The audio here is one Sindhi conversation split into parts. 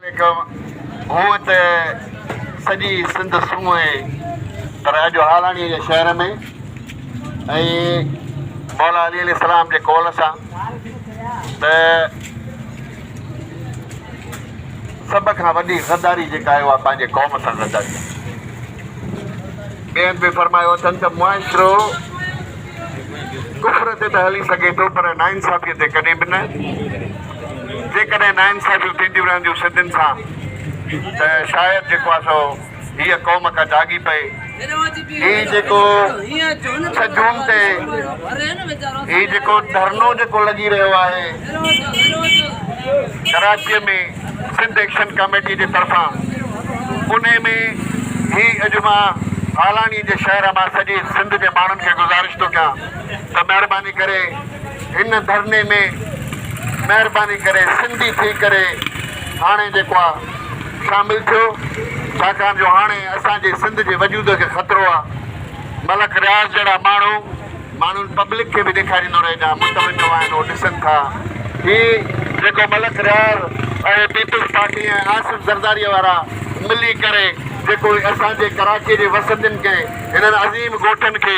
عليڪم هونء ته سڄي سنڌ سون اهي پر اڄ هالاڻي جي شهر ۾ ۽ مولا علي عليه السلام جي قول سان ته سڀ کان وڏي غداري جيڪا آهي اها پنهنجي قوم سان غداري آهي ٻئي هنڌ به فرمايو اٿن ته معاشرو ڪفر تي ته هلي سگهي ٿو پر ناانصافي تي ڪڏهن به نه جيڪڏهن ناانصافيون ٿينديون رهنديون سنڌين سان ته شايد جيڪو آهي سو هيء قوم ڪا جاڳي پئي. هي جيڪو ڇهه جون تي هي جيڪو ڌرڻو جيڪو لڳي رهيو آهي ڪراچيء ۾ سنڌ ايڪشن ڪاميٽيء جي طرفان انهي ۾ هي اڄ مان هالاڻيء جي شهر مان سڄي سنڌ جي ماڻهن کي گذارش ٿو ڪيان ته مهرباني ڪري هن ڌرڻي ۾ مهرباني ڪري سنڌي ٿي ڪري هاڻي جيڪو آ شامل ٿيو ڇاڪاڻ جو هاڻي اسان جي سنڌ جي وجود کي خطرو آ ملڪ رياض جهڙا ماڻهو ماڻهن پبلڪ کي به ڏيکاريندو رهي جا متوجهه آهن اهو ڏسن ٿا هي جيڪو ملڪ رياض ۽ پيپلز پارٽي ۽ آصف زرداري وارا ملي ڪري جيڪو اسان جي ڪراچي جي وسندين کي هنن عظيم ڳوٺن کي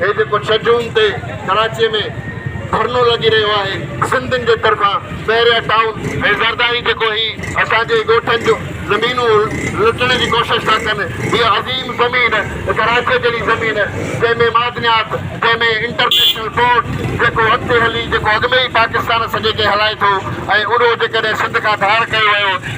هي جيڪو ڇهه جون تي ڪراچيء ۾ ڌرڻو لڳي رهيو آهي سنڌين جي طرفان بحريا ٽائون ۽ زرداري جيڪو هي اسان جي ڳوٺن جون زمينون لٽڻ جي ڪوشش ٿا ڪن هيء عظيم زمين ڪراچيء جهڙي زمين جنهن ۾ معدنيات جنهن ۾ انٽرنيشنل پورٽ جيڪو اڳتي هلي جيڪو اڳ ۾ ئي پاڪستان سڄي کي هلائي ٿو ۽ اهو جيڪڏهن سنڌ کان ڌار ڪيو ويو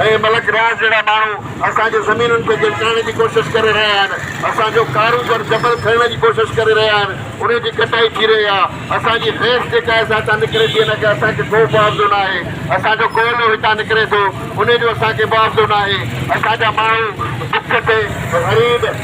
اهي ملڪ رياض جهڙا ماڻهو اسان جي زمينن کي جلٽائڻ جي ڪوشش ڪري رهيا آهن، اسان جو ڪاروگهر جبل کڻڻ جي ڪوشش ڪري رهيا آهن، ان جي ڪٽائي ٿي رهي آهي، اسان جي حيث جيڪا آهي سا هتان نڪري ٿي، ان کي اسان کي ڪو معاوضو نه آهي، اسان جو ڪوئلو هتان نڪري ٿو، ان جو اسان کي معاوضو نه آهي، اسان جا ماڻهو بک تي غريب.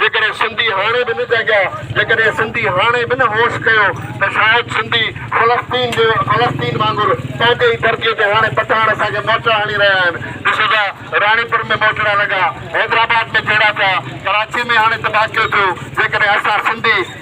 جيڪڏهن سنڌي هاڻي به نه جاڳيا، جيڪڏهن سنڌي هاڻي به نه هوش ڪيو ته شايد سنڌي فلسطين جي فلسطين وانگر پنهنجي ئي ڌرتيء تي هاڻي پٺاڻ اسان کي موچڙا هڻي رهيا آهن. ڏسو ٿا راڻيپور ۾ موچڙا لڳا، حيدرآباد ۾ جهيڙا ٿيا، ڪراچيء ۾ هاڻي تباهه ڪيو ٿيو، جيڪڏهن اسان سنڌي.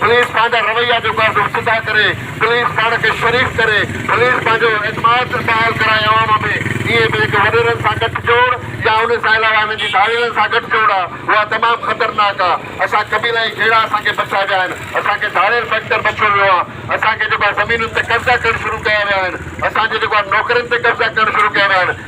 پوليس پنهنجا رويا جو پردو سڌا ڪري، پوليس پاڻ کي شريف ڪري، پوليس پنهنجو اعتماد بحال ڪرائي عوام ۾ ائين به جيڪي وڏيرن سان گٺ جوڙ يا ان سان علاوه هنن جي ڌاڙيلن سان گٺ جوڙ آ اها تمام خطرناڪ آ اسان قبيلائي جهيڙا اسان کي بچا ويا آهن اسان کي ڌاڙيل فيڪٽر بچيو ويو آ اسان کي جيڪو آ زمينن تي قبضا ڪرڻ شروع ڪيا ويا آهن اسان جي جيڪو آ نوڪرين تي قبضا ڪرڻ شروع ڪيا ويا آهن.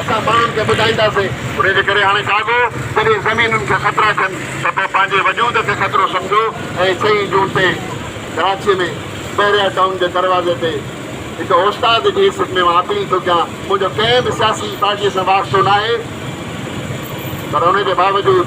اسان ماڻهن کي ٻڌائينداسين. انهي جي ڪري هاڻي ڪاڳو جڏهن زمينن کي خطرا ٿين ته پوء پنهنجي وجود کي خطرو سمجهو ۽ چئين جون تي ڪراچيء ۾ بحريا ٽائون جي دروازي تي هڪ اوستاد جي حيثيت ۾ مان اپيل ٿو ڪيان منهنجو ڪنهن به سياسي پارٽيء سان واسطو ناهي پر انهي جي باوجود